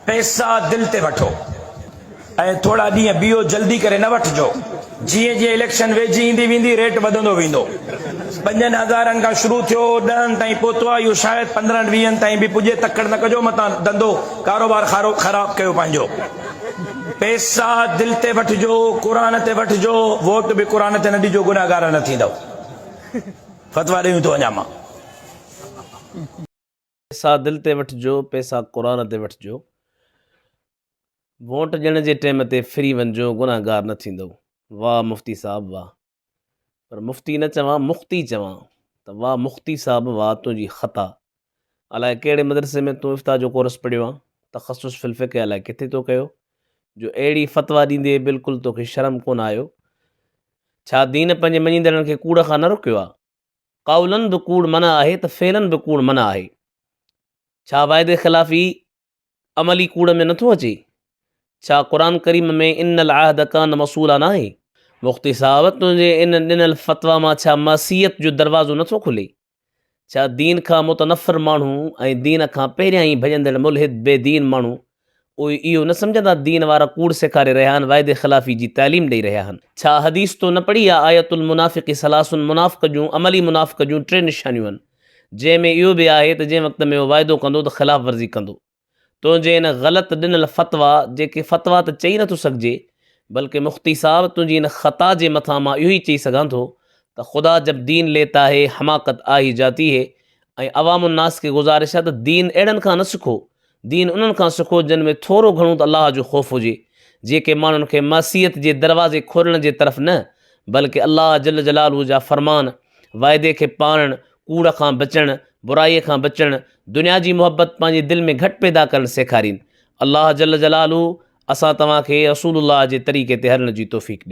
پئسا دل تي وٺو ۽ ٿورا ڏينهن بيهو جلدي ڪري نه وٺجو جيئن جيئن اليڪشن ويجهي ايندي ويندي ريٽ وڌندو ويندو پنجن هزارن کان شروع ٿيو ڏهن تائين پهتو آهي اهو شايد پندرهن ويهن تائين به پڄي تڪڙ نه ڪجو متان ڌنڌو ڪاروبار خارو خراب ڪيو پنهنجو پئسا دل تي وٺجو قرآن تي وٺجو ووٽ به قرآن تي نه ڏجو گناهگار نه ٿيندو فتوا ڏيون ٿو اڃا مان پيسا دل تي وٺجو پيسا قرآن تي وٺجو ووٽ ڏيڻ جي ٽيم تي ڦري وڃجو گناهگار نه ٿيندو واه مفتي صاحب واه پر مفتي نه چوان مختي چوان ته واه مختي صاحب واه تنهنجي خطا الاء ڪهڙي مدرسي ۾ تون افتا جو ڪورس پڙهيو آ تخصص في الفقه الاء ڪٿي تو ڪيو جو اهڙي فتوا ڏيندي بالڪل توکي شرم ڪونه آيو ڇا دين پنهنجي مڃيندڙن کي ڪوڙ کان نه روڪيو آ قولن به ڪوڙ منع آهي ته فعلن به ڪوڙ منع آهي. ڇا وعدي خلافي عملي ڪوڙ ۾ نٿو اچي؟ ڇا قرآن ڪريم ۾ ان العهد ڪان مسؤولا ناهي؟ مفتي صاحب تنهنجي ان ڏنل فتويٰ مان ڇا معصيت جو دروازو نٿو کلي؟ ڇا دين کان متنفر ماڻهو ۽ دين کان پهريان ئي ڀڄندڙ ملحد بي دين ماڻهو اهي اهو نه سمجهندا دين وارا ڪوڙ سيکاري رهيا آهن وعدي خلافي جي تعليم ڏئي رهيا آهن. ڇا حديث تو نه پڙهي آ آية المنافق ثلاث منافق جون عملي منافق جون ٽي نشانيون آهن جنهن ۾ اهو به آهي ته جنهن وقت ۾ اهو وعدو ڪندو ته خلاف ورزي ڪندو تنهنجي ان غلط ڏنل فتويٰ جيڪي فتويٰ ته چئي نٿو سگهجي بلڪه مفتي صاحب تنهنجي ان خطا جي مٿان مان اهو ئي چئي سگهان ٿو ته خدا جب دين ليتا هي حماقت آهي جاتي هي ۽ عوام الناس کي گذارش آهي ته دين اهڙن کان نه سکو دين انهن کان سکو جن ۾ ٿورو گهڻو ته الله جو خوف هجي، جيڪي ماڻهن کي معصيت جي دروازي کولڻ جي طرف نه بلڪه الله جل جلاله جا فرمان، وعدي کي پاڙڻ، ڪوڙ کان بچڻ، برائي کان بچڻ، دنيا جي محبت پنهنجي دل ۾ گهٽ پيدا ڪرڻ سيکارين. الله جل جلاله اسان توهان کي رسول الله جي طريقي تي هلڻ جي توفيق ڏي.